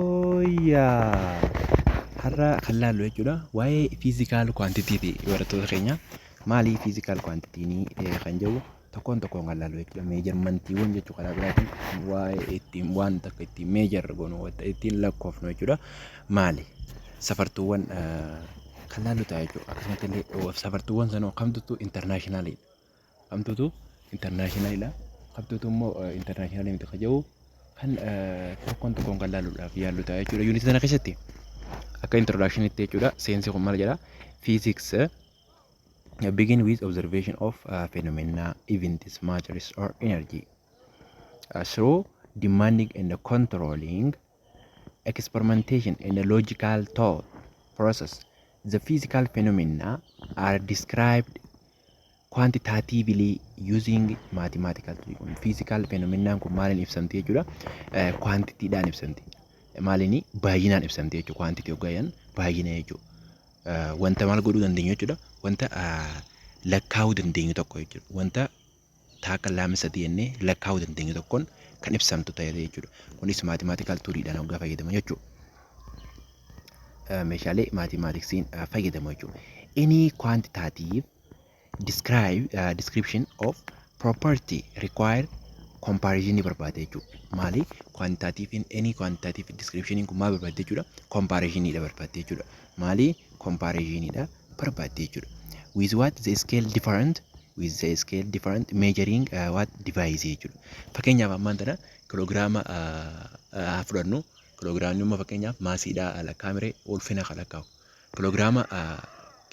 Yooyyaa! Har'a kan laallu jechuudha waa'ee fiizikaal kwaantitiiti barattoota keenya. Maali fiizikaal kwaantitiin kan jedhu tokkoon tokkoon kan laallu jechuudha. Meejarmantiiwwan jechuu karaa biraatiin waa'ee ittiin waan takka ittiin meejar goonu wanta ittiin lakkoofnu jechuudha. Maali? Safartuuwwan kan laallu ta'a jechuudha. Akkasumas illee safartuuwwan sanoo kamtu intarnaashinaaliidha? Amtutu international dha. Qabtutu immoo international miti kan jedhu kan tokkoon tokkoon kan laaluudhaaf yaallu ta'a jechuudha. Yuunitii sana keessatti akka introduction itti jechuudha. Seensi kun maal jedha? Physics begin with observation of uh, phenomena, events, matters or energy uh, through demanding and controlling experimentation and a logical thought process. The physical phenomena are described quantitatively using mathematical tool kun physical phenomenon kun maaliin ibsamti jechuudha quantity dhaan ibsamti maaliin baay'inaan ibsamti jechuudha quantity hoggayan baay'ina jechuudha wanta maal godhuu dandeenyu jechuudha wanta lakkaa'uu dandeenyu tokko jechuudha wanta taakka laama sadii jennee lakkaa'uu dandeenyu tokkoon kan ibsamtu ta'e jechuudha. Kunis maatimaatikaal tuuriidhaan hoggaa fayyadamu jechuudha. Meeshaalee maatimaatiksiin fayyadamu jechuudha. Any quantitative describe, uh, description of property require comparison barbaada jechuudha. Maali? Quantitative any quantitative description kun maal barbaadde jechuudha? Comparison dha barbaadde jechuudha. Maali? Comparison dha. barbaaddi jechuudha. With what the scale different with the scale different measuring uh, what device jechuudha. Fakkeenyaaf ammaan tana kiloogiraama haa fudhannu kiloogiraamni immoo fakkeenyaaf maasiidhaa lakkaa'amire ulfina kan lakkaa'u. Kiloogiraama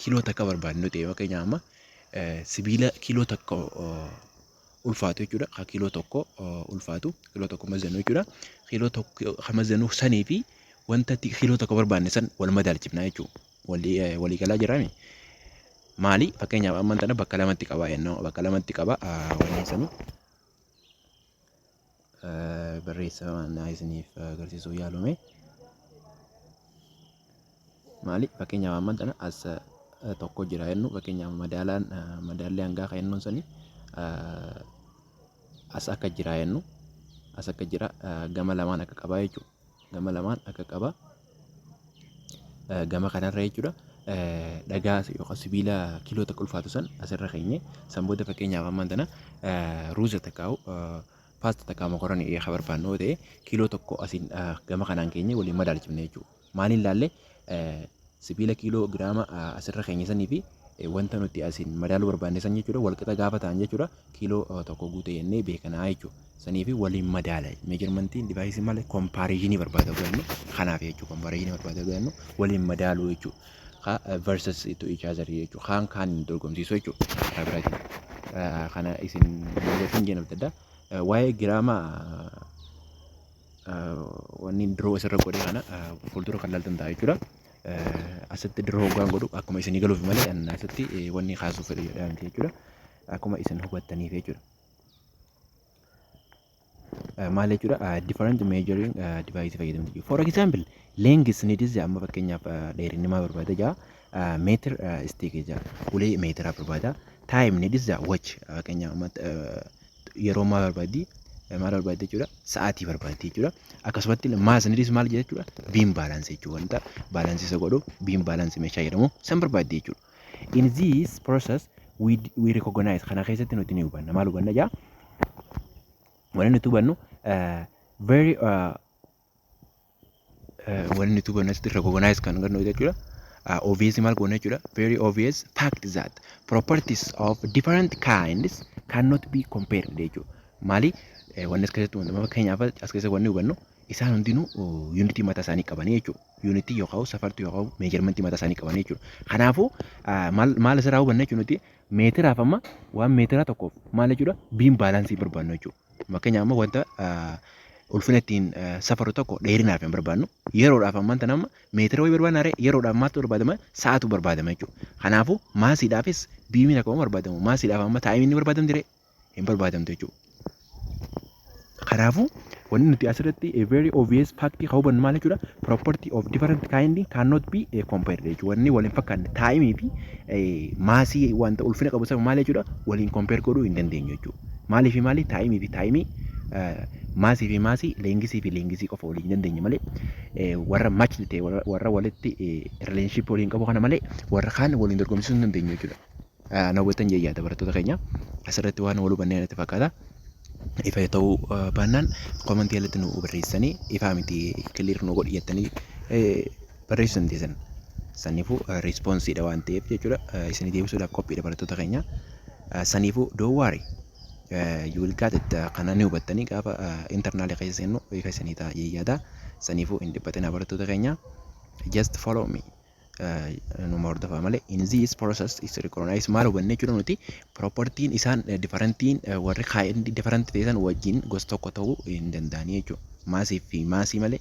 kiiloo takka barbaadnu ta'e fakkeenyaaf amma sibiila kiiloo takka ulfaatu jechuudha. Kan kiiloo tokko ulfaatu kiiloo tokko mazanu jechuudha. Kiiloo tokko kan mazanu sanii fi wanta kiiloo tokko barbaadne san wal madaalchifna jechuudha. walii galaa jirami. Maali fakkeenyaaf amman tana bakka lamatti qabaa jennoo bakka lamatti qaba wanneen sanu barreessa naa isiniif agarsiisuu yaalume. Maali fakkeenyaaf amman tana as tokko jira jennu fakkeenyaaf madaalaan madaalli hangaa kan jennuun sani as akka jira jennu as akka jira gama lamaan akka qabaa jechuudha. gama lamaan akka qaba gama kanarra jechuudha. Dhagaa yookaan sibiila kiiloo takka ulfaatu san asirra keenye san booda fakkeenyaaf ammaan tana ruuza takkaa'u paasta takkaa mokoranii dhiyeef haa barbaannu yoo ta'e kiiloo tokko asiin gama kanaan keenye waliin madaalchifne jechuudha. Maaliin laallee Sibiila kiiloo giraama asirra keenya sanii fi wanta nuti asiin madaaluu barbaanne san jechuudha walqixa gaafa ta'an jechuudha kiiloo tokko guute jennee beekanaa jechuudha. Sanii fi waliin madaala meejarmantiin divaayisii malee kompaariizinii barbaada godhannu kanaaf jechuudha kompaariizinii barbaada godhannu waliin madaaluu jechuudha. Kaa versus to each other jechuudha kaan kaan dorgomsiisuu jechuudha. Karaa biraatiin kana isin hojjetan jedhamtadha. Waa'ee giraama wanni diroo asirra godhe kana fuuldura kan laaltan ta'a jechuudha. Asitti diroo hoggaan godhu akkuma isin galuuf malee asitti wanni kaasuuf fedhu jedhaa miti jechuudha. Akkuma isin hubattaniif jechuudha. Maal jechuudha different measuring device fayyadamtu jechuudha. For example length ni dizze amma fakkeenyaaf dheerinni maa barbaada jaa meetir isteekii jaa ulee meetiraa barbaada. Time ni dizza watch fakkeenyaaf yeroo maal barbaaddi? Maal barbaaddi jechuudha? Sa'aatii barbaaddi jechuudha. Akkasumatti maas niidis maal jedha jechuudha? Biin baalaansi jechuudha. Wanta baalaansii isa godhu biin baalaansi meeshaa jedhamu san barbaaddi jechuudha. In this process we, we recognize kana keessatti nuti ni hubanna. Maal hubanna jaa? Wanni nuti hubannu uh, very uh, wanni tuba nasitti recognize kan gannu jechuudha. Uh, obvious maal goona jechuudha. Very obvious fact that properties of different kinds cannot be compared jechuudha. Maali eh, wanni as keessatti wanta fakkeenyaaf as keessa wanni hubannu isaan hundinuu yuunitii mataa isaanii qabanii jechuudha. Yuunitii yookaan safartuu yookaan meejarmentii mataa isaanii qabanii jechuudha. Kanaafuu ah, maal maal asirraa hubanna jechuudha nuti meetiraaf amma waan meetiraa tokkoof maal jechuudha biin baalaansii barbaannu jechuudha. Fakkeenyaaf amma wanta ulfina ittiin safarru tokko dheerinaaf hin barbaadnu. Yeroodhaaf ammaan tana amma meetira wayii barbaadna ree yeroodhaaf maaltu barbaadama? Sa'aatu barbaadama jechuudha. Kanaafuu maasiidhaafis biimiin akkuma barbaadamu maasiidhaaf amma taa'imiin ni barbaadamti ree? Hin barbaadamtu jechuudha. Kanaafuu wanni nuti asirratti a very obvious fact kan hubannu maal jechuudha? Property of different kind cannot be eh, compared jechuudha. Wanni wal hin fakkaanne taa'imii fi eh, maasii wanta ulfina qabu sana maal jechuudha? Waliin compare godhuu hin dandeenyu jechuudha. Maalii fi maalii taayimii fi taayimii maasii fi maasii leengisii fi leengisii qofa waliin dandeenye malee warra matchni ta'e warra walitti relationship waliin qabu kana malee warra kaan waliin dorgomsiisuu hin dandeenye jechuudha. Na hubattan jee yaada barattoota keenya asirratti waan wal hubannee natti fakkaata. Ifa ta'uu baannaan komantii jalatti nu barreessanii ifaa miti kiliir nu godhi jettanii barreessu hin teessan. Saniifuu riispoonsiidha waan ta'eef jechuudha. Isinii deebisuudhaaf qophiidha barattoota keenya. Saniifuu don't worry. You will get it kana ni hubattanii gaafa internaalii keessa seennu hiika isinii ta'a jee yaada. Saniifuu hin dhiphatinaa barattoota keenya. Just follow me. Numa hordofaa malee. In this process is recognized maal hubanne jechuudha nuti propertiin isaan differentiin warri kaa'een different ta'e san wajjin gosa tokko ta'uu hin danda'anii jechuudha. Maasii fi maasii malee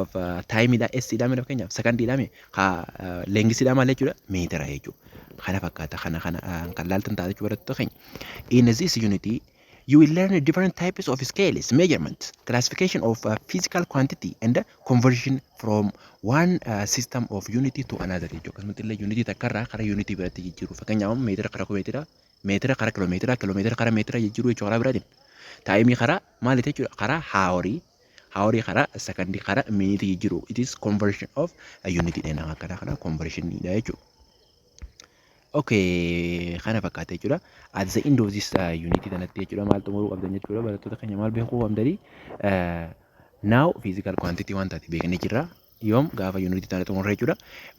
of taayimiidha essiidha mee fakkeenyaaf sekandiidha mee ka leengisiidha maal jechuudha meetira jechuudha. Kana fakkaata kana kana kan laaltan taate jechuudha barattoota keenya. In this unit you will learn different types of scales, measurements, classification of uh, physical quantity and uh, conversion from one uh, system of unit to another jechuudha. Akkasumatti illee unit takka irraa gara unit biraatti jijjiiru. Fakkeenyaaf meetira gara meetira, meetira gara kilomeetira, kilomeetira gara meetira jijjiiru jechuudha karaa biraatiin. Taayimii karaa maaliiti jechuudha? Karaa haaworii Hawari kara sakandi kara miniti jijiru it is conversion of unit dha nama kana kana conversion dha jechu Okay, kana fakkaata jechuudha. At the end of this uh, unit kanatti jechuudha maal xumuruu qabdan jechuudha barattoota keenya maal beekuu qabdanii uh, now physical quantity waan taate beeknee jirra. yoom gaafa unit taane xumurre jechuudha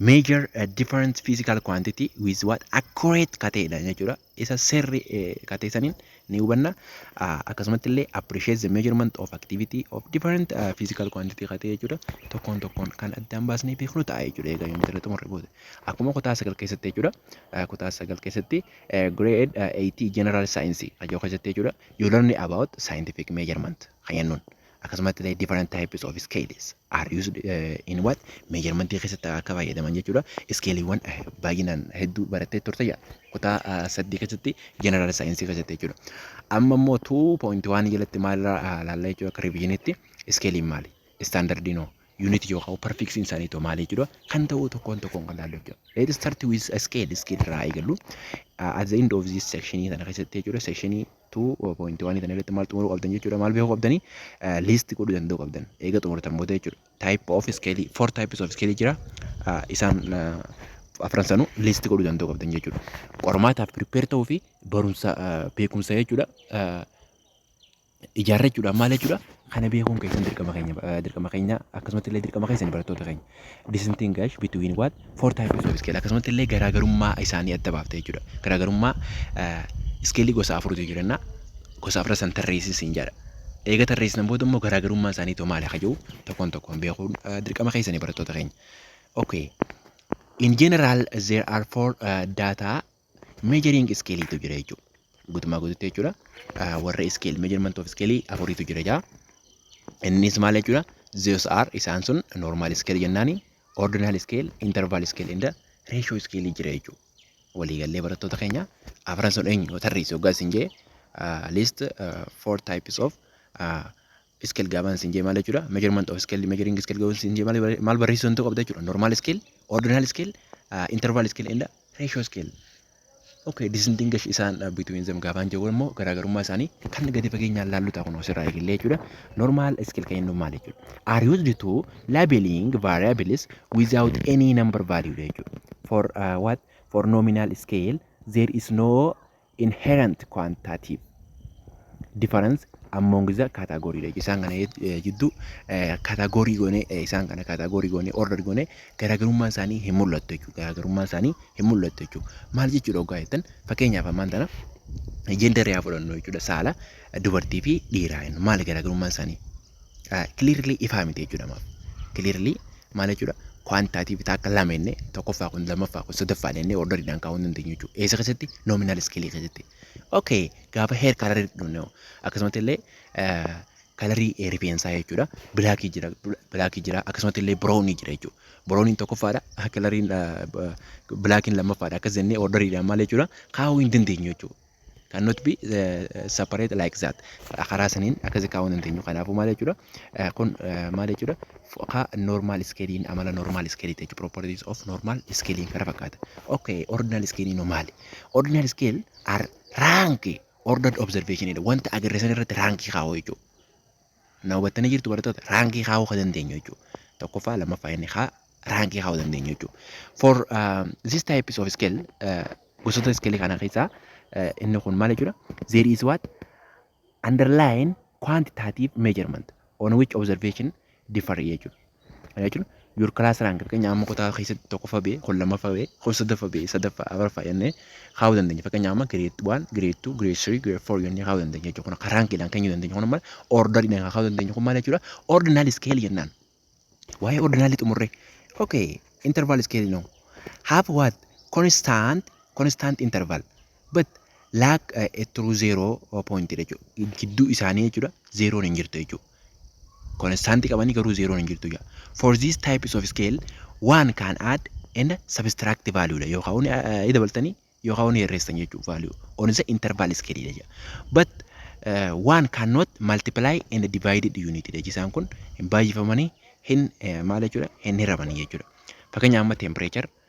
major uh, different physical quantity with what accurate kateedha jechuudha isa sirri katee saniin ni hubanna akkasumatti illee appreciate the measurement of activity of different uh, physical quantity katee jechuudha tokkoon tokkoon kan addaan baasnee beeknu ta'a jechuudha egaa unit irra xumurre booda akkuma kutaa sagal keessatti jechuudha uh, kutaa sagal keessatti uh, grade uh, 80 general science ajoo keessatti jechuudha you learn about scientific measurement kan jennuun Akkasumatti illee different types of scales are used eh, in what measurement keessatti akka fayyadaman jechuudha. Iskeeliiwwan eh, baay'inaan hedduu barattee turte yaa kutaa ah, saddeet keessatti general saayinsii keessatti jechuudha. Amma immoo 2.1 jalatti maal irraa ah, ilaalla jechuudha akka revisionitti iskeeliin maali? Standardiin hoo? Unit yookaan perfection isaanii too maali jechuudha. Kan ta'uu tokkoon tokkoon kan ilaallu jechuudha. Let's start with a scale scale irraa eegallu. Ah, At the end of this section kana keessatti jechuudha section tu point waan ittiin irratti maal xumuruu qabdan jechuudha maal beekuu qabdanii liisti godhuu danda'uu qabdan eega xumurtan booda jechuudha type of scale four types of scale jira isaan afran sanuu liisti godhuu danda'uu qabdan jechuudha qormaataaf prepare ta'uu fi barumsa beekumsa jechuudha ijaarrachuudhaan maal jechuudha kana beekuun keessan dirqama keenya dirqama keenya akkasumatti illee dirqama keessan barattoota keenya Distinguish between what? Four types of scale. Akkasumatti illee garaagarummaa isaanii adda baafta jechuudha. Garaagarummaa iskeelii gosa afuritu jiru jenna. Gosa afran san tarreessin siin jedha. Eega tarreessinan booda immoo garaagarummaan isaanii too maali kajuu tokkoon tokkoon beekuun dirqama keessanii barattoota keenya. Okay. In general, there are four uh, data Measuring scale tu jira jechuudha. Guutummaa guututti jechuudha. Ah, Warra scale measurement of scale afuriitu jira jaa. Innis maal jechuudha? Those are isaan sun normal scale jennaani, ordinal scale, interval scale and ratio scale jira jechuudha. Waliigallee barattoota keenya afran sun eenyu yoo tarreessi hoggaa isin jee ah, list ah, four types of ah, scale gaabaan sin jee maal jechuudha measurement of scale measuring scale gaabaan sin jee maal barreessuu danda'u qabda jechuudha normal scale ordinal scale uh, interval scale and ratio scale okay distinguish isaan uh, between them gaabaan jee immoo garaagarummaa isaanii kan gadi fageenyaan laallu ta'a kun asirraa eegallee jechuudha normal scale kan jennu maal jechuudha are used to labeling variables without any number value jechuudha for uh, what for nominal scale there is no inherent quantitative difference among the category dha. Isaan kana jidduu category goone isaan kana category goone order goone garaagarummaan isaanii hin mul'attu jechuudha. Garaagarummaan isaanii hin mul'attu jechuudha. Maal jechuudha ogaa jettan fakkeenyaaf ammaan tana jenderii haa fudhannu jechuudha. Saala dubartii fi dhiiraa jennu maal garaagarummaan isaanii? clearly ifaa miti jechuudha maaf clearly maal jechuudha quantitative bitaa akka lama inni tokkoffaa kun lammaffaa kun sadaffaa inni orderiidhaan kaa'uu hin dandeenyu jechuudha eessa keessatti nominal scale keessatti okay gaafa hair color dhufne akkasumatti illee kalarii rifeensaa jechuudha bilaakii jira bilaakii jira akkasumatti illee biroonii jira jechuudha birooniin tokkoffaadha kalariin bilaakiin lammaffaadha akkas jennee orderiidhaan maal jechuudha kaa'uu hin dandeenyu jechuudha cannot be eh, separate like that Ka- karaa saniin akkasi kaa'uu hin dandeenyu kanaafuu maal jechuudha Eh, kun eh, maal jechuudha F- ka normal scaling amala normal scaling jechuudha properties of normal scaling kana fakkaata okay ordinal scaling hoo maali ordinal scale are rank ordered observation jedha wanta agarre san irratti raankii kaa'u jechuudha Na hubattanii jirtu barattoota raankii kaa'uu kan dandeenyu jechuudha. Tokkoffaa lammaffaa inni kaa raankii kaa'uu dandeenyu jechuudha. For uh, this types of scale uh, gosoota iskeelii kana keessaa uh, inni kun maal jechuudha? There is what underlying quantitative measurement on which observation differ jechuudha. Kana jechuun your class rank fakkeenyaaf amma kutaa keessatti tokkoffaa ba'e, kun lammaffaa ba'e, kun sadaffaa ba'e, sadaffaa, afraffaa jennee kaa'uu dandeenya. Fakkeenyaaf amma grade 1, grade 2, grade 3, grade 4 jennee kaa'uu dandeenya jechuudha. Kun akka raankiidhaan kennuu dandeenya. Kun amma orderiidhaan kan kaa'uu dandeenyu kun maal jechuudha? Ordinal scale jennaan. Waa'ee ordinaalii xumurree. Okay, interval scale no. Have what? Constant, constant interval. but lack uh, a true zero uh, point dha jechuudha. Gidduu isaanii jechuudha zeeroon hin jirtu jechuudha. Konstaantii qabanii garuu zeeroon hin jirtu jechuudha. For these types of scale one can add and subtract value dha yookaan uni uh, dabaltanii yookaan uni hirreessan jechuudha value on the interval scale dha jechuudha. But uh, one cannot multiply and divided unit dha jisaan kun hin baay'ifamanii hin eh, maal jechuudha hin hiramanii jechuudha. Fakkeenyaaf amma temperature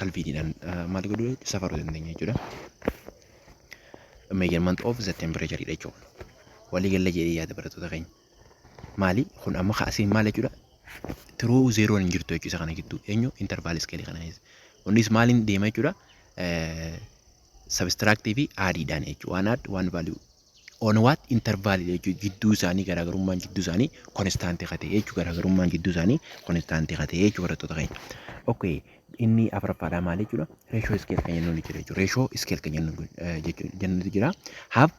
kalviiniidhaan maal godhu safaruu dandeenya jechuudha. Measurement of the temperature dha jechuudha. Walii galla jedhee yaada barattoota keenya. Maali kun amma kaasiin maal jechuudha? Tiruu zeeroon hin jirtu jechuudha kana gidduu eenyu intervaal iskeelii kana keessa. Kunis maaliin deema jechuudha? Sabistiraaktii fi aadiidhaan jechuudha. Waan aad waan vaaluu On what interval dha jechuudha. Jidduu isaanii garaagarummaan jidduu isaanii konistaantii ka ta'e jechuudha. Garaagarummaan jidduu isaanii konistaantii ka ta'e jechuudha barattoota keenya. Okay. Inni afuraffaadhaa maal jechuudha? Reeshoo iskeel kan jennuun jira jechuudha. Reeshoo iskeel kan jennuun jechuudha jennuutu jira. Have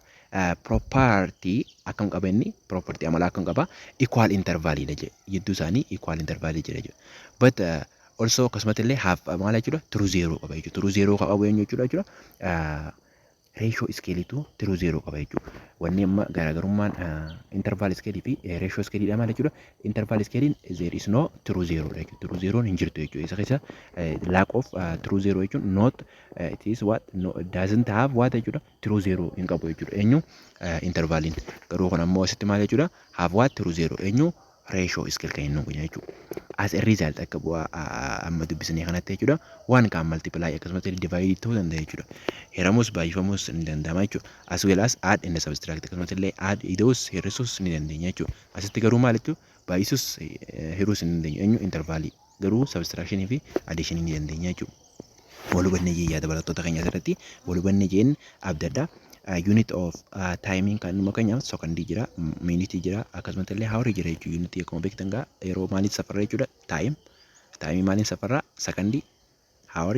property akkam qaba inni? Property amalaa akkam qaba? Equal interval dha jedhe. Jidduu isaanii equal interval jira jechuudha. But uh, also akkasumatti illee have maal jechuudha? True zero qaba jechuudha. True zero kan qabu eenyu jechuudha jechuudha? Uh, Reeshoo iskeeliitu tiruu zeeroo qaba jechuudha. Wanni amma garaagarummaan intervaal iskeelii fi reeshoo iskeeliidha maal jechuudha. Intervaal iskeeliin zeer is noo tiruu zeeroodha jechuudha. Tiruu zeeroon hin jirtu jechuudha. Isa keessa laak of tiruu zeeroo jechuun noot it is what doesn't have what jechuudha. Tiruu zeeroo hin qabu jechuudha. Eenyu intervaaliin garuu kun ammoo asitti maal jechuudha. Have what tiruu zeeroo eenyu ratio scale kan inni godha jechuudha. As a result akka bu'aa amma dubbisnee kanatti jechuudha. Waan kan multiply akkasumas divide ta'uu danda'a jechuudha. Hiramus baay'ifamus ni danda'ama jechuudha. As well as add and subtract akkasumas illee add ida'us hir'isus ni dandeenya jechuudha. Asitti garuu maal jechuudha? Baay'isus hir'us ni dandeenya. Eenyu intervaalii. garuu subtraction fi addition ni dandeenya jechuudha. Wal hubanne jee yaada barattoota keenya asirratti wal hubanne jeen abdadha. Unit of time kan nu fakkeenyaaf second jira, minute jira, akkasumas illee hour jira jechuudha. Unit akkuma beektan gaa yeroo maaliin safarra jechuudha time. Time maaliin safarra second, hour,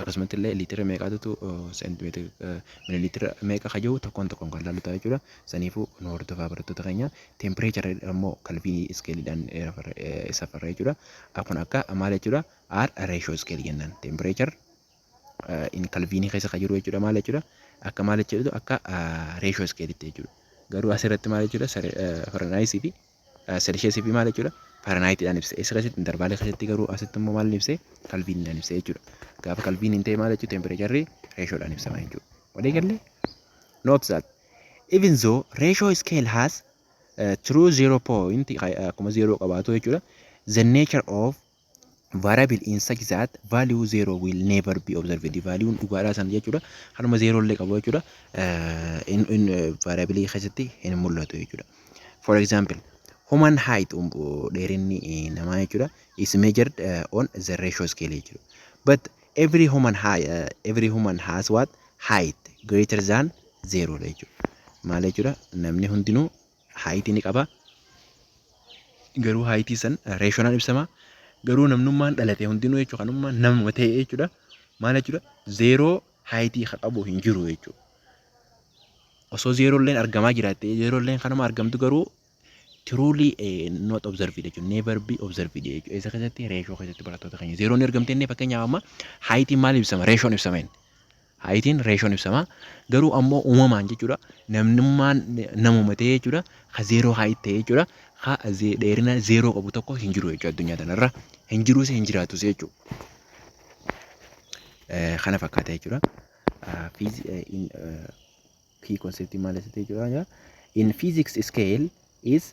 Akkasumatti illee liitira meeqaatutu seentimeetira mililiitira meeqa ka jiru tokkoon tokkoon kan laallu ta'a jechuudha. Saniifuu nu hordofaa barattoota keenya. Teempireechara immoo kalviinii iskeeliidhaan safarra jechuudha. Kun akka maal jechuudha? R reeshoo iskeelii jennaan. Teempireechar in kalviinii keessa ka jiru jechuudha maal jechuudha? Akka maal jechuudha? Akka reeshoo iskeeliitti jechuudha. Garuu asirratti maal jechuudha? Faranaayisii fi Selisheesii fi maal jechuudha? Faranaayiitiidhaan ibse. Eessa keessatti? Intarvaalii keessatti garuu asitti immoo maal ibse? Kalviiniidhaan ibse jechuudha. Gaafa kalviiniin ta'e maal jechuudha? Tempireecharri reeshoodhaan ibsama jechuudha. Walii galle? Note that even though ratio scale has uh, true zero point akkuma zero qabaatu jechuudha. The nature of variable in such that value zero will never be observed value dhugaadhaa sana jechuudha hanuma zero illee qabu jechuudha in in variable keessatti hin mul'atu jechuudha for example human height dheerinni namaa jechuudha is measured on the ratio scale jechuudha but every human high every human has what height greater than zero jechuudha maal jechuudha namni hundinuu haayitii ni qaba. Garuu haayitii san reeshoonaan ibsama. Garuu namnummaan dhalate hundinuu jechuudha kanummaa namuma ta'e jechuudha. Maal jechuudha? Zeeroo haayitii ka qabu hin jiru jechuudha. Osoo zeeroolleen argamaa jiraatte zeeroolleen kanuma argamtu garuu tiruulii not observed jechuudha. Never be observed jechuudha. Isa keessatti reeshoo keessatti barattoota keenya zeeroon ni argamte inni fakkeenyaaf amma haayitiin maal ibsama? Reeshoon ibsameen. Haayitiin reeshoon ibsama. Garuu ammoo uumamaan jechuudha namnummaan namuma ta'ee jechuudha ka zeeroo haayit ta'ee jechuudha ka dheerina zeeroo qabu tokko hin jiru jechuudha addunyaa tanarra hin jiruus hin jiraatus jechuudha. Kana fakkaata jechuudha. Kii konseptii maal isa ta'e jechuudha. In physics scale is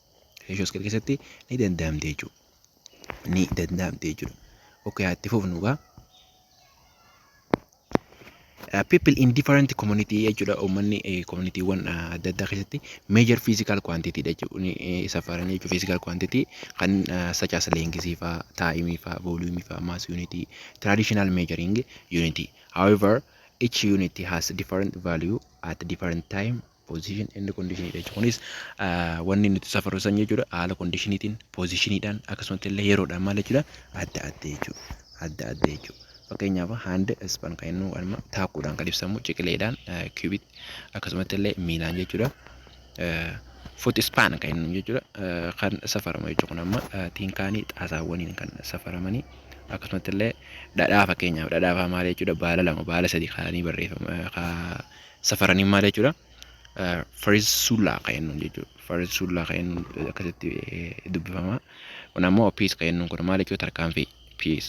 Reeshoo iskeel keessatti ni danda'amti jechuudha. Ni danda'amti jechuudha. Okay, haa itti fufnu egaa. Uh, people in different community jechuudha uummanni eh, communityawwan uh, adda addaa keessatti major physical quantity dha jechuun eh, safaran jechuudha physical quantity kan uh, such as length faa time faa volume faa mass unit traditional measuring unit however each unit has different value at different time position and condition jechuudha. Kunis wanni nuti safaru san jechuudha haala kondishiniitiin pozishiniidhaan akkasumatti illee yeroodhaan maal jechuudha adda adda jechuudha. Adda adda jechuudha. Fakkeenyaaf handa ispan kan inni waanuma taakuudhaan kan ibsamu ciqileedhaan kiubit akkasumatti illee miilaan jechuudha. Foot span kan inni jechuudha kan safaramu jechuudha kun amma tiinkaanii xaasaawwaniin kan safaramanii akkasumatti illee dhadhaa fakkeenyaaf dhadhaa fa'aa maal jechuudha baala lama baala sadii kaanii barreeffama safaranii maal jechuudha fariis sullaa kan jennuun jechuudha fariis sullaa kan jennuun akkasitti dubbifama kun ammoo piis kan jennuun kun maal jechuudha tarkaanfii piis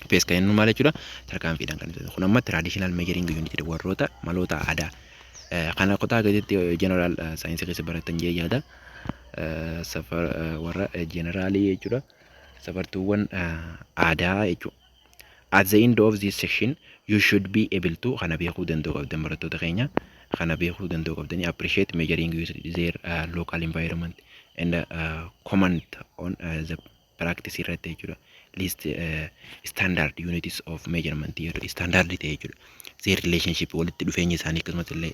piis kan jennuun maal jechuudha tarkaanfiidhaan kan ibsatu kun ammoo traditional measuring unit jedhu warroota maloota aadaa kana kutaa gaditti general saayinsii keessa baratan jee yaada safar warra generaalii jechuudha safartuuwwan aadaa jechuudha. At the end of this session you should be able to kana beekuu danda'uu qabdan barattoota keenya kana beekuu danda'uu qabdanii appreciate measuring used their uh, local environment and uh, comment on uh, the practice irratti jechuudha list uh, standard units of measurement jedhu standard ta'e jechuudha their relationship walitti dhufeenya isaanii akkasumas illee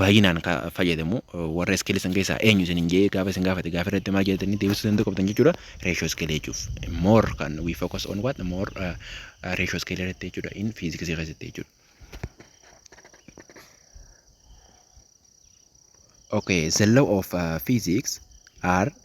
baay'inaan ka fayyadamu warra iskeelii san keessaa eenyu isinin jee gaafa isin gaafate gaafa irratti maal jedhatanii deebisuu danda'u qabdan jechuudha reeshoo iskeelii jechuuf more kan we focus on what more reeshoo iskeelii irratti jechuudha in fiiziksii keessatti jechuudha. Okay, the law of uh, physics are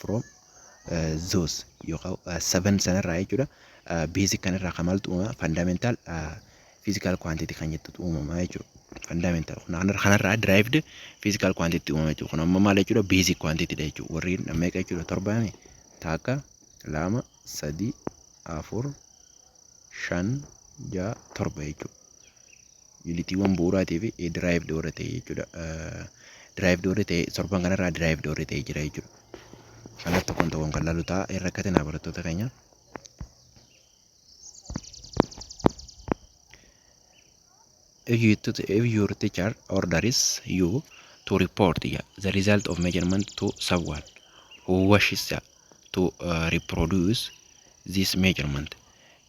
from those yookaan seven sanarraa jechuudha basic kanarraa kan maaltu uumama fundamental physical quantity kan jettutu uumama jechuudha. Fundamental kanarraa derived physical quantity uumama jechuudha. Kun amma maal jechuudha basic quantity dha jechuudha. Warri meeqa jechuudha torbaami takka lama sadii afur shan ja'a torba jechuudha. Yuunitiiwwan bu'uuraatii fi diraayivdi warra ta'e jechuudha. Diraayivdi warri ta'e torban kanarraa diraayivdi warri ta'e jira jechuudha. Kanaaf tokkoon tokkoon kan laalu ta'a. Irra katinaa barattoota keenya. If you to, if your teacher orders you to report yeah, the result of measurement to someone who wishes yeah, to uh, reproduce this measurement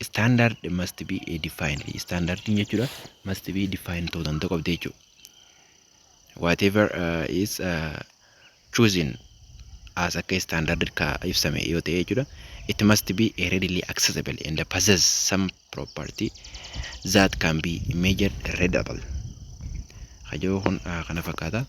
standard must be a defined standardin jechuudha must be defined ta'uu danda'u qabdi jechuudha whatever uh, is uh, choosing as akka standard ka ibsame yoo ta'e jechuudha it must be a readily accessible and possess some property that can be measured readable ka jiru kun ah, kana fakkaata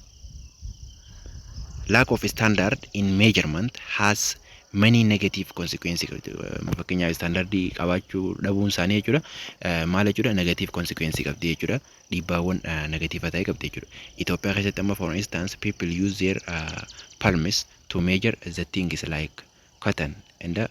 lack of standard in measurement has many negative consequences qabdi. Eh, fakkeenyaaf standardii qabaachuu dhabuun isaanii jechuudha Eh, maal jechuudha negative consequence qabdi jechuudha dhiibbaawwan eh, negatiiva ta'e qabdi jechuudha Itoophiyaa keessatti amma for instance people use their uh, palms to measure the things like cotton and the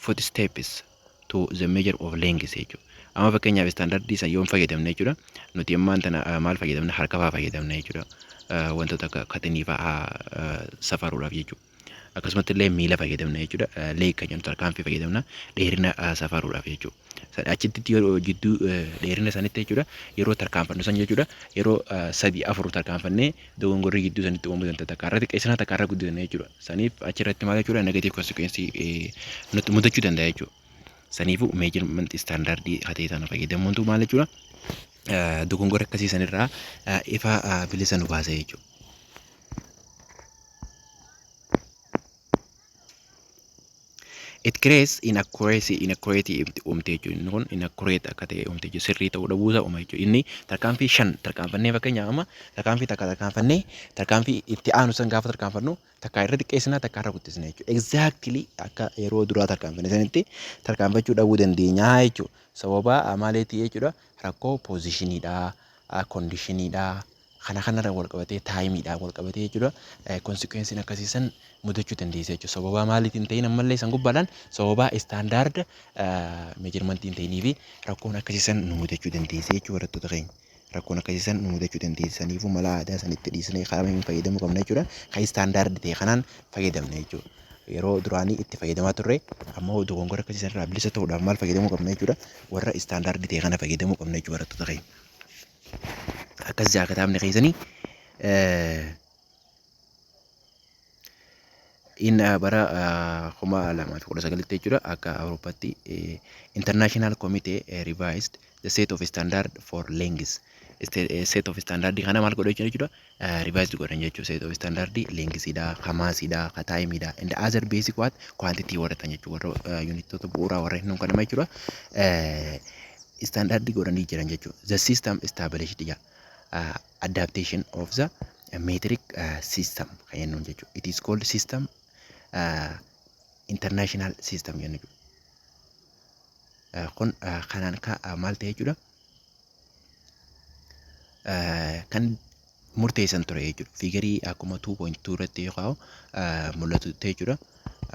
footsteps to the measure of length jechuudha. Amma fakkeenyaaf istaandardii san yoon fayyadamne jechuudha. Nuti ammaan tana ah, maal fayyadamna? Harka fa'aa fayyadamna jechuudha. Ah, Wantoota akka katinii fa'aa ah, safaruudhaaf jechuudha. Akkasumatti illee miila fayyadamna jechuudha. Ah, Leeg kan jedhamu tarkaanfii fayyadamna dheerina ah, safaruudhaaf jechuudha. San- Achitti yeroo jidduu eh, dheerina sanitti jechuudha yeroo tarkaanfannu san jechuudha yeroo ah, sadii afur tarkaanfannee dogongorri gidduu sanitti uumuu danda'a takka irratti qeessinaa takka irra guddisanii jechuudha. Saniif achirratti maal jechuudha negative consequence nutti mudachuu danda'a jechuudha. Saniifuu measurement standard hatee sana fayyadamuuntu maal jechuudha dogongora akkasii sanirraa ifa bilisa nu baasa jechuudha. It creates inaccuracy, inaccurate uumte jechuudha. Inni kun inaccurate akka ta'e uumte jechuudha. Sirrii ta'uu dhabuu isaa uuma jechuudha. Inni tarkaanfii shan tarkaanfannee fakkeenyaaf amma tarkaanfii takka tarkaanfannee tarkaanfii itti aanu san gaafa tarkaanfannu takka irra xiqqeessina takka irra guddisna jechuudha. Exactly akka yeroo duraa tarkaanfanne sanitti tarkaanfachuu dhabuu dandeenya jechuudha. Sababa maaliitii jechuudha rakkoo poozishiniidhaa, kondiishiniidhaa. Kana kanarra wal qabatee taayimiidhaan wal qabatee jechuudha konsikweensiin akkasii san mudachuu dandeessa jechuudha. Sababaa maaliitiin hin ta'in ammallee san gubbaadhaan sababaa istaandaarda meejarmantii hin ta'inii fi rakkoon akkasii san nu mudachuu dandeessa jechuudha barattoota keenya. Rakkoon akkasii san nu mudachuu dandeessa saniifuu mala aadaa san itti dhiisnee karaa hin fayyadamuu qabna jechuudha. Kan istaandaardi ta'e kanaan fayyadamna jechuudha. Yeroo duraanii itti fayyadamaa turre ammoo dogongora akkasii sanarraa bilisa ta'uudhaaf maal fayyadamuu qabna jechuudha. Warra istaandaardi ta'e kana fayyadamuu qabna jechuudha barattoota keenya. akkas jaa kitaabni keessani in bara kuma lamaa fi kudha sagalitti jechuudha akka awurooppatti international committee revised the set of standard for lengths set of standard kana maal godha jechuudha revised godhan jechuu set of standard length dha ka mass dha ka time dha and other basic what quantity warra tan jechuu warra unitota bu'uuraa warra hin kanama jechuudha standard godhanii jiran jechuu the system established ja adaptation of the metric system kan jennuun jechuu it is called system international system jennu kun kanaan ka maal ta'e jechuudha kan murteessan ture jechuudha. Fiigarii akkuma 2.2 irratti yoo kaa'u mul'atutti jechuudha.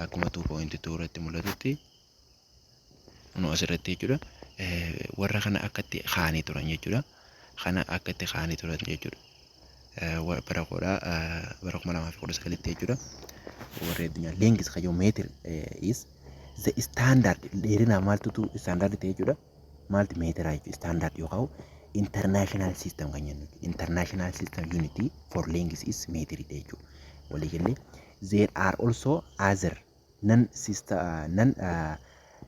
Akkuma 2.2 irratti mul'atutti nu asirratti jechuudha. Warra kana akkatti kaa'anii turan jechuudha. Kana akkatti kaa'anii turan jechuudha. Bara koodha bara 2019tti jechuudha. Warri addunyaa leengiis kayyoo meetir is the standard dheerinaa maaltutu standard ta'e jechuudha. maalti meetira jechuudha standard yoo ka'u international system kan jennu international system unit for length is meetiri jechuudha walii galee there are also other non system non uh,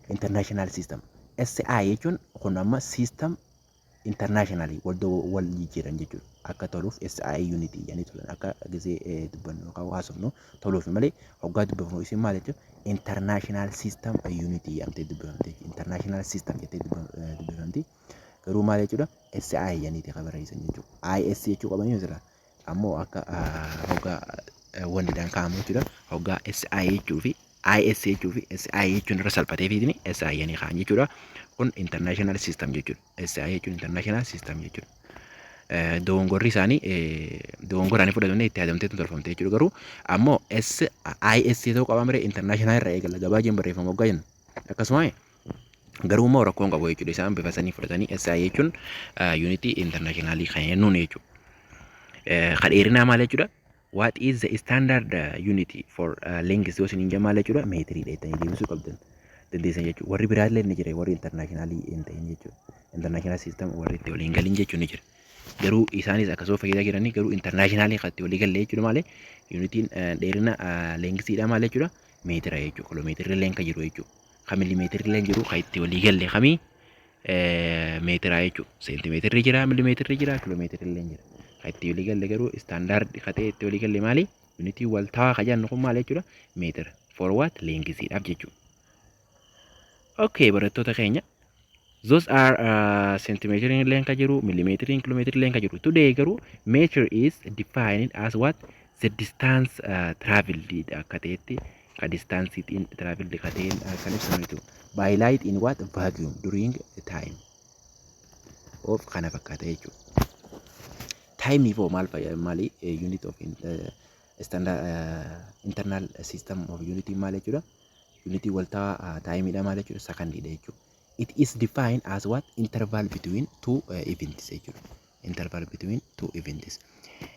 international system SI jechuun kun amma system internationally wal do- wal jijjiiran jechuudha akka toluuf SI unit jedhanii turan akka gisee eh, dubbannu yookaan haasofnu toluuf malee hoggaa dubbifamu isin maal jechuun international system unit jedhamtee dubbifamte international system jettee dubbifamti garuu maal jechuudha SI jedhaniiti kan barreessan jechuudha IS jechuu qabanii misira ammoo akka hoggaa wanti dhaan kaa'amu jechuudha hoggaa SI jechuu fi IS jechuu fi SI jechuun irra salphatee fiidni SI jedhanii kaa'an jechuudha kun international system jechuudha. SI jechuun international system jechuudha. Dogongorri isaanii dogongora ani fudhatamne itti yaadamteetu tolfamte jechuudha garuu ammoo SIS ta'uu qaba malee international irraa eegala gabaa jeen barreeffama waggaa jennu akkasuma garuu immoo rakkoon qabu jechuudha isaan bifa sanii fudhatanii SI jechuun yuunitii internationalii kan jennuun jechuudha. Kadheerinaa maal jechuudha? What is the standard uh, unit for uh, length yoo isiniin jamaa jechuudha meetirii dheettanii deebisuu qabdan dandeessan jechuudha warri biraa illee ni jira warri intarnaashinaalii hin ta'in jechuudha intarnaashinaal siistam warri itti waliin galin jechuun ni jira garuu isaanis akkasuma fayyadaa jiranii garuu intarnaashinaalii kan itti walii galle jechuudha malee yuunitiin dheerina leengisiidha maal jechuudha meetira jechuudha kiloomeetirri illee kan jiru jechuudha kan milimeetirri illee jiru kan itti walii galle kamii meetiraa jechuudha. Seentimeetirri jira, milimeetirri jira, kiiloomeetirri illee jira. Kan itti walii galle garuu istaandaardi katee itti walii galle maali? Yuunitii wal ta'aa kan jennu kun maal jechuudha? Meetira. For what? Leengisiidhaaf jechuudha. Okay, barattoota keenya. Those are uh, centimetering illee kan jiru, millimetering, kilometering illee kan jiru. Today garuu meter is defined as what? The distance uh, traveled akka ta'etti ka distaansii xiin tiraavildi ka ta'een kan ibsamu jechuudha. By light in what vacuum during time of kana fakkaata jechuudha. Time hoo maal fayyada maali unit of standard internal system of unit maal jechuudha. Unit waltaa taayimiidha maal jechuudha sakandiidha jechuudha. It is defined as what interval between two events jechuudha. interval between two events.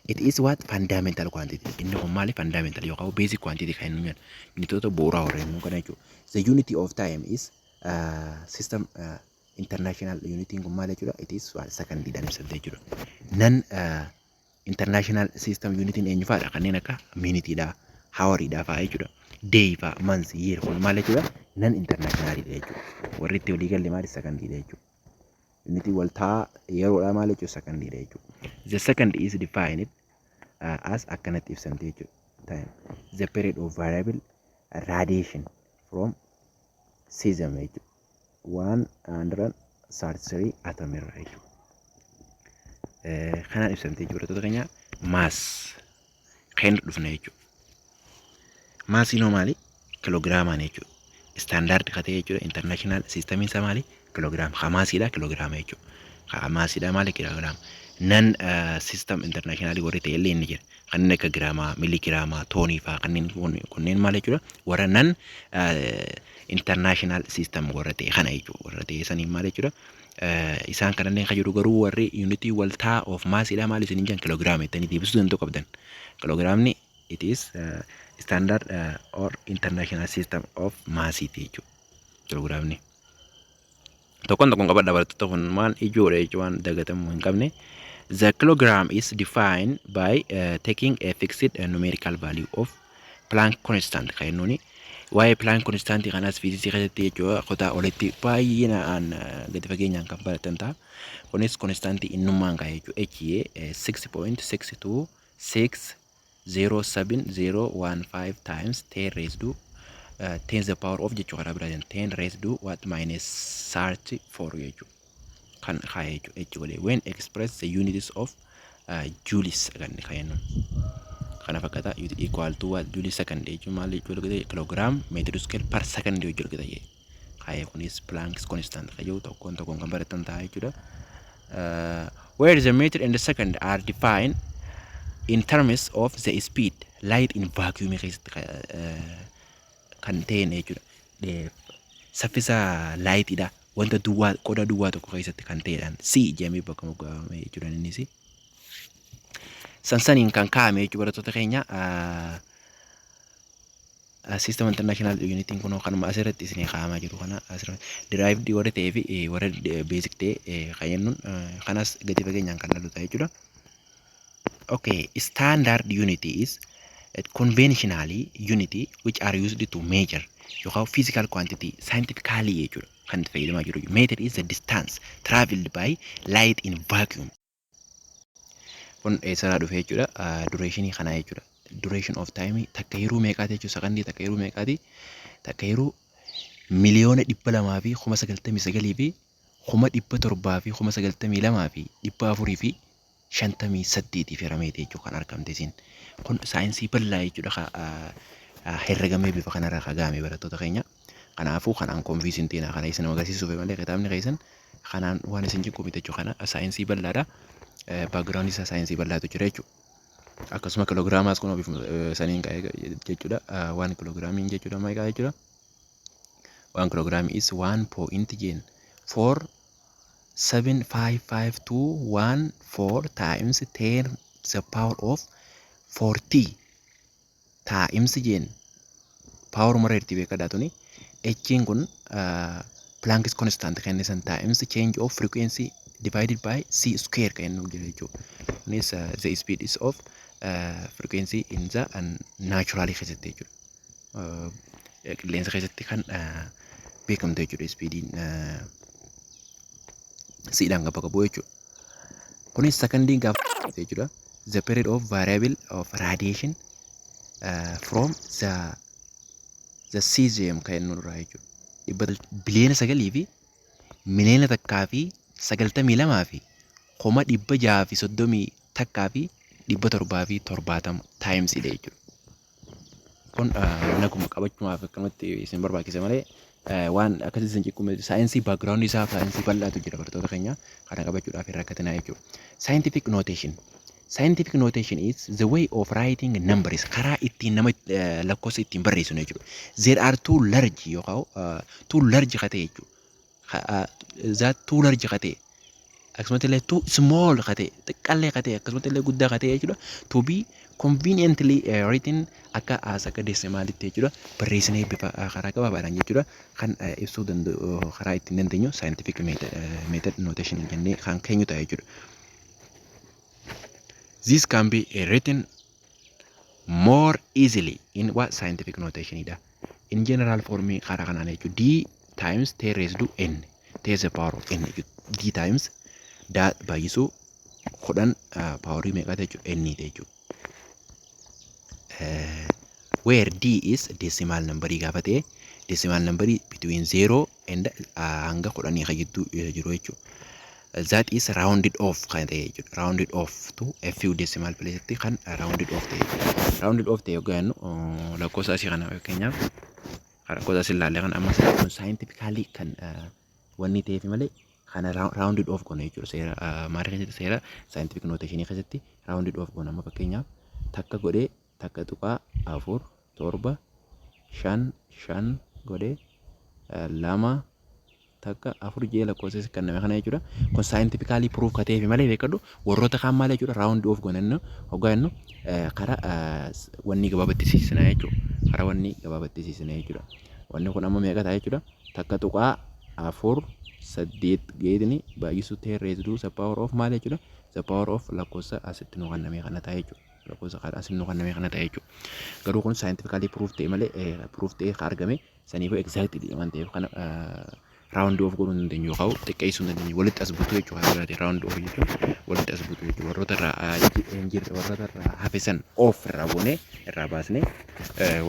It is what fundamental quantity. Inni kun maali fundamental yookaan basic quantity kan inni jedhu. Unitoota bu'uuraa warra immoo kana jechuudha. The unity of time is uh, system uh, international unity kun maali jechuudha. It is one second jedhamee sabda jechuudha. Nan uh, international system unity eenyu fa'aadha kanneen akka minitiidha, hawariidha fa'aa jechuudha. Day fa'aa, months, year kun maali jechuudha. Nan international jechuudha. Warri itti walii galle maali second jechuudha. Innitiin waltaa yeroodhaa maal jechuudha sakandiidha jechuudha. The second is defined uh, as akkanatti ibsamte jechuudha. Time. The period of variable radiation from season jechuudha. 133 atom irraa jechuudha. Eh, Kanaan ibsamte jechuudha. Barattoota keenya mass keenya dhufna jechuudha. Maasiin hoo maali? Kiloogiraamaan jechuudha. Istaandaardi ka ta'e jechuudha. Intarnaashinaal siistamiin isaa maali? Kiloogiraama. Ka maasiidha kiloogiraama jechuudha. Ka maasiidha maali? Kiloogiraama. Nan siistam intarnaashinaalii warri ta'e illee inni jira. Kanneen akka giraamaa, miligiraamaa, toonii fa'aa kanneen kunneen maal jechuudha? Warra nan intarnaashinaal siistam warra ta'e kana jechuudha. Warra ta'e saniin maal jechuudha? Isaan kanallee kan jedhu garuu warri yuunitii waltaa of maasiidhaa maal isin hin jedhan kiloogiraama jettanii deebisuu danda'u qabdan. Kiloogiraamni it is standard or international system of mass ti jechuudha. Kiloogiraamni. Tokkoon tokkoon qabadha barattoota kun waan ijoodha jechuun waan dagatamuu hin qabne. The kilogram is defined by uh, taking a fixed uh, numerical value of Planck constant kan jennuuni. Waa'ee Planck constant kanas fiiziksii keessatti jechuudha kutaa olitti baay'inaan gadi fageenyaan kan baratan ta'a. Kunis constant innummaan kan jechuudha. HA 6.6260701 times 10 raised to 10 the power of jechuu karaa biraatiin 10 raised to what minus 34 jechuudha. kan kaa'e jechuudha h godhee when express the units of uh, joules kan kaa'ennu kana fakkaata ut equal to what joule second jechuun maal jechuu argite kilogram meter square per second jechuu argite jee kaa'e kunis planks constant kan jiru tokkoon tokkoon kan baratan ta'a jechuudha uh, where the meter and the second are defined in terms of the speed light in vacuum keessatti ka- eh, kan ta'een jechuudha. Eh, Saffisa laayitiidha. wanta duwwaa qodaa duwwaa tokko keessatti kan ta'edhaan si jedhamee bakka moggaafame jechuudha innis. Sansaniin kan kaa'ame jechuudha barattoota keenya. System International Unitiin kun kanuma asirratti isin kaa'amaa jiru kana asirratti derived warra ta'ee fi warra basic ta'e kan jennuun kanas gadi fageenyaan kan lalu ta'a jechuudha. Okay, standard unit is a conventional unit which are used to measure yookaan physical quantity scientifically jechuudha kan itti fayyadamaa jiru. Meter is the distance traveled by light in vacuum. Kun eessarraa dhufe jechuudha duration kanaa jechuudha. Duration of time takka yeroo meeqaati jechuudha sakandii takka yeroo meeqaati takka yeroo miliyoona dhibba lamaa fi kuma sagaltamii sagalii fi kuma dhibba torbaa fi kuma sagaltamii lamaa fi dhibba afurii fi 58 fi rameeti jechuudha kan argamte isin. Kun saayinsii bal'aa jechuudha ka herregamee bifa kanarra ka ga'ame barattoota keenya. Kanaafuu kanaan konfiis hin teenaa kana isin agarsiisuuf malee kitaabni keessan kanaan waan isin jiqqu miti jechuudha. Kana saayinsii bal'aadha. Baagiraawundi isaa saayinsii bal'aatu jira jechuudha. Akkasuma kiloogiraamaas kun ofiif saniin ka'ee jechuudha. Waan kiloogiraamiin jechuudha meeqa jechuudha. Waan kiloogiraamii is waan poo'inti jeen foor 75514 times 10 to the power of 40 times jeen power mara irti beekadha tuni echiin kun Planck's constant kan isan times change of frequency divided by c square kan nu jira jechuudha. Kunis the speed is of uh, frequency in the uh, natural keessatti jechuudha. qilleensa keessatti kan beekamtu jechuudha ispiidiin siidhaan kan bakka bu'u jechuudha. Kunis sakandiin gaafa jechuudha. The period of variable of radiation uh, from the the cesium kan inni irraa jechuudha. Dhibba biliyoona sagalii fi miliyoona takkaa fi sagaltamii lamaa fi kuma dhibba jahaa fi soddomii takkaa fi dhibba torbaa fi torbaatama taayimsiidha jechuudha. kun mana kuma qabachumaaf akkanumatti isin barbaachise malee waan akkasii isin ciqqu miti. Saayinsii baakgiraawundii isaa saayinsii bal'aatu jira bartoota keenya kana qabachuudhaaf hin rakkatinaa jechuudha. Scientific notation. Scientific notation is the way of writing numbers karaa ittiin nama lakkoofsa ittiin barreessinu jechuudha. There are two large yookaan two large ka ta'e jechuudha. zaat too large ka ta'e akkasumatti illee too small ka ta'e xiqqaallee ka ta'e akkasumatti illee guddaa ka ta'e jechuudha to be conveniently uh, written akka as akka deesimaalitti jechuudha barreessinee bifa uh, karaa gabaabaadhaan jechuudha kan uh, ibsuu danda'u uh, karaa ittiin dandeenyu scientific method, uh, method notation jennee kan keenyu ta'a jechuudha. This can be uh, written more easily in what scientific notation dha. In general form karaa kanaan jechuun d times t raised to n t is the power of n jechuudha. d times daa baay'isuu kudhan paaworii meeqaa jechuudha n jechuudha. Where d is decimal number gaafa ta'e decimal number between 0 and hanga kudhanii kan jidduu isa jiru jechuudha. That is rounded off kan ta'e jechuudha. Rounded off to a few decimal place tti kan rounded off ta'e jechuudha. Rounded off ta'e yoggaa jennu uh, lakkoofsa asii kana fakkeenyaaf kan lakkoofsa asii ilaalle kan ammas kun scientifically kan uh, wanni ta'eef malee kana ra- rounded off goona jechuudha. Seera uh, maal keessatti seera scientific notation keessatti rounded off goona. Amma fakkeenyaaf takka godhee 1.4 7 5 5 godhe 2 takka 4 jee lakkoofsa si kenname kana jechuudha. Kun saayintifikaalii piruuf ka ta'eefi malee beekadhu warroota kaan maal jechuudha raawundi oof gonannu hoggaa jennu kara wanni gabaabatti siisina jechuudha. Kara wanni gabaabatti siisina jechuudha. Wanni kun amma meeqa ta'a jechuudha. Takka tuqaa afur saddeet geetni baay'isuu ta'e reeziduu sappaawar oof maal jechuudha. Sappaawar oof lakkoofsa asitti nu kenname kana ta'a jechuudha. lakkoofsa kan asiin nu kenname kana ta'e jechuudha. Garuu kun saayintifikaalii piruuf ta'e malee piruuf ta'e kan argame saniif egzaaktiidha waan ta'eef kana raawundi oof godhuu hin dandeenyu yookaan xiqqeessuu hin dandeenyu walitti as butuu jechuudha haala biraatiin raawundi oof jechuun walitti as butuu jechuudha warroota irraa hin jirre warroota irraa hafisan oof irraa goonee irraa baasnee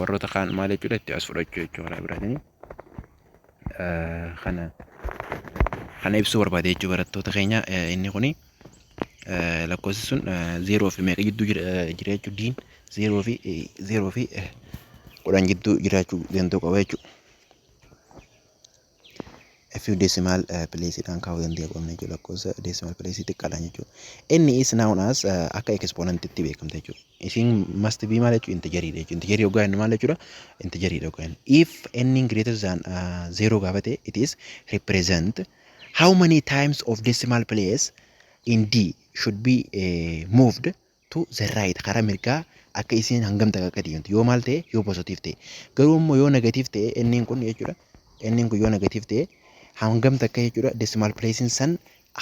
warroota kaan maal jechuudha itti as fudhachuu jechuudha haala biraatiin. kana kana ibsuu barbaade jechuu barattoota keenya inni kuni lakkoofsi sun zeeroo fi meeqa jidduu jira jechuu diin zeeroo fi zeeroo fi kudhan jidduu jiraachuu danda'u qaba jechuu fi decimal place dhaan kaa'uu danda'u qabna jechuu lakkoofsa decimal place xiqqaadhaan jechuu inni is noun as akka exponent itti beekamta jechuu Isin must be maal jechuudha? Integerii dha jechuudha. Integerii hoggaa jennu maal jechuudha? Integerii dha hoggaa jennu. If n greater than uh, zero gaafa ta'e it is represent how many times of decimal place in d should be uh, moved to the right karaa mirgaa akka isiin hangam takka akka deemtu yoo maal ta'e yoo positiif ta'e garuu immoo yoo negatiif ta'e n kun jechuudha n kun yoo negatiif ta'e hangam takka jechuudha decimal place san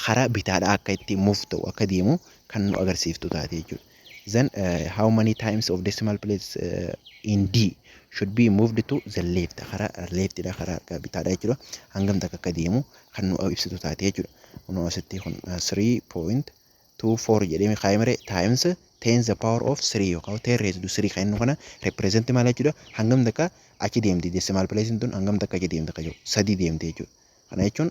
karaa bitaadhaa akka itti move ta'u akka deemu kan nu agarsiiftu taate jechuudha. Then uh, how many times of decimal place uh, in D should be moved to the left karaa left dha karaa harka bitaadha jechuudha. Hangam takka akka deemu kan nu ibsitu taate jechuudha. Kunoo asitti kun uh, 3.24 jedhee kaa'imre times 10 the power of 3 yookaan 10 raised to 3 kan inni kana represent maal jechuudha. Hangam takka achi deemti decimal place tun hangam takka achi deemti kan jedhu sadii deemti jechuudha. Kana jechuun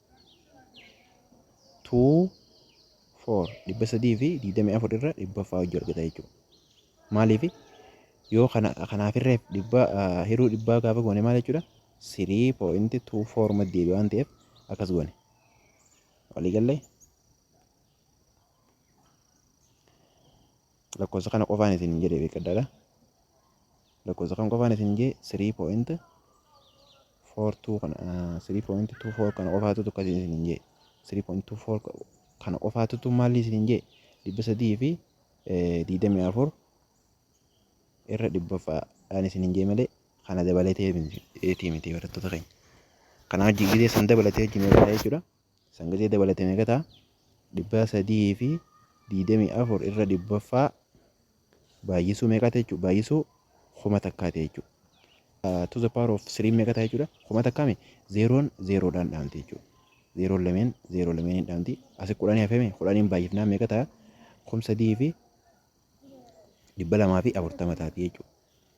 tuu foor dhibba sadii fi digdamii afur irra dhibba faa hojii argata jechuudha. Maaliif yoo kana kanaaf irreef dhibba ah, hiruu dhibbaa gaafa goone maal jechuudha? Sirii pooyinti tuu foor matti deebi'a waan ta'eef akkas goone. Walii gallee lakkoofsa kana qofaan isin jedhe beekadhaadha. Lakkoofsa kana qofaan isin jee sirii pooyinti 42 kana 3.24 kana qofaatutu akkasii isin hin jee 3.24 kana qofaatutu maalli isin hin jee dhibba sadii fi digdamii afur irra dhibbaffaadhaan isin hin jee malee kana dabalatee miti barattoota keenya. Kana wajjin gidee san dabalatee wajjin irraa jechuudha. Sangatee dabalate meeqa ta'a? 324 irra 100ffaa baay'isuu meeqa ta'e jechuudha? Baay'isuu kuma takkaa ta'e jechuudha. To the power of 3 meeqa ta'a jechuudha? Kuma takkaame zeeroon zeeroodhaan dhaamti jechuudha. Zeeroon lameen zeeroo lameeniin dhaamti. Asi kudhanii hafeeme kudhaniin baay'ifnaan meeqa ta'a? Kum sadii fi dhibba lamaa fi afurtama taati jechuudha.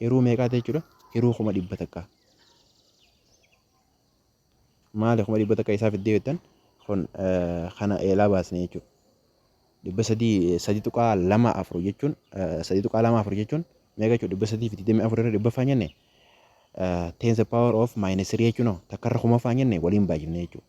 Hiruu meeqaa ta'e jechuudha? Hiruu kuma dhibba takka. Maali kuma dhibba takka isaa fiddee jettan kun kana eelaa baasne jechuudha. Dhibba sadii sadii tuqaa lama afur jechuun sadii tuqaa lama afur jechuun meeqa jechuudha? Dhibba sadii fi digdamii afur irra dhibba faanyenne tens power of minus three jechuun takkarra kuma faanyenne waliin baay'ifne jechuudha.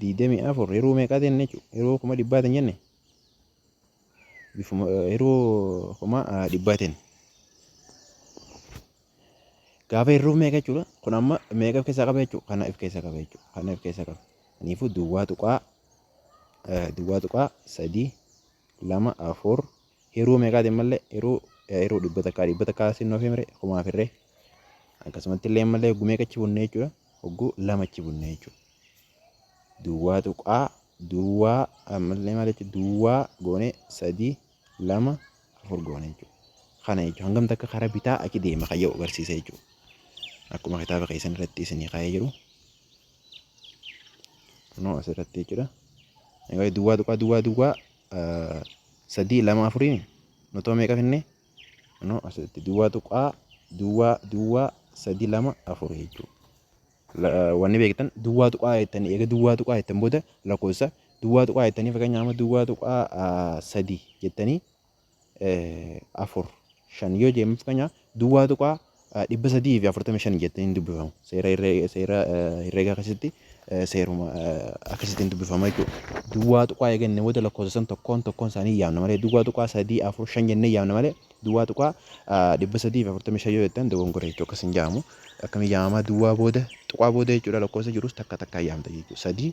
digdamii afur hiruu meeqaa jenne jechuudha hiruu kuma dhibbaa hin jenne hiruu kuma dhibbaatiin gaafa hiruu meeqa jechuudha kun amma meeqa of keessaa qaba jechuudha kana of keessaa qaba jechuudha kana of keessaa qaba kanaafuu duwwaa tuqaa duwwaa tuqaa sadii lama afur Hiruu meeqaati ammallee hiruu hiruu dhibba takkaa dhibba takkaa sin oofee mire kumaa firree akkasumatti illee ammallee hogguu meeqa achi bunnee jechuudha hogguu lama achi bunnee jechuudha. Duwwaa tuqaa duwwaa ammallee maal jechuudha duwwaa goone sadii lama afur goone jechuudha. Kana jechuudha hangam takka karaa bitaa achi deema kan yoo agarsiisa jechuudha. Akkuma kitaaba keessan irratti isinii kaa'ee jiru. Kunoo asirratti jechuudha. Duwwaa tuqaa duwwaa duwwaa sadii lama afurii nutoo meeqa finnee no asitti duwwaa tuqaa duwwaa duwwaa sadii lama afurii jechuudha. Wanni beektan duwwaa tuqaa jettanii eega duwwaa tuqaa jettan booda lakkoofsa duwwaa tuqaa jettanii fakkeenyaaf amma duwwaa tuqaa sadii jettanii 4, 5 yoo jeen mafkanya duwwaa tuqaa 345 jettee hin dubbifamu. Seera herree- seera, eh, herreegaa keessatti eh, seeruma eh, akkasitti hin dubbifama jechuudha. Duwwaa tuqaa eeganne booda lakkoofsa san tokkoon tokkoon isaanii yaamna malee duwwaa tuqaa 3, 4, 5 jennee yaamna malee duwwaa tuqaa eh, 345 yoo jettan dogongora jechuudha akkas hin jaamu. Akkamiin yaamamaa duwwaa booda tuqaa booda jechuudha lakkoofsa jirus takka takkaa yaamta jechuudha. 3,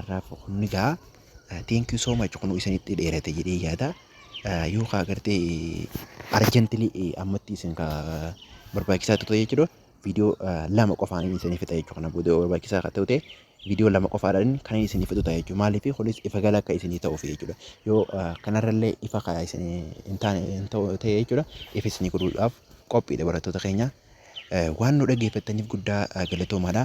Arraaf kunni gaa thank you so much kunu isinitti dheerate jedhee yaada yoo kaa gartee arjentili ammatti isin ka barbaachisaa tuta jechuudha viidiyoo lama qofaan isin fixa jechuudha kana booda barbaachisaa ka ta'ute viidiyoo lama qofaadhaan kan isin fixu ta'a jechuudha maaliif kunis ifa gala akka isin ta'uuf jechuudha yoo kanarrallee ifa ka isin hin taane hin ta'u ta'e jechuudha ifa isin godhuudhaaf qophiidha barattoota keenya waan nu dhaggeeffattaniif guddaa galatoomaadha.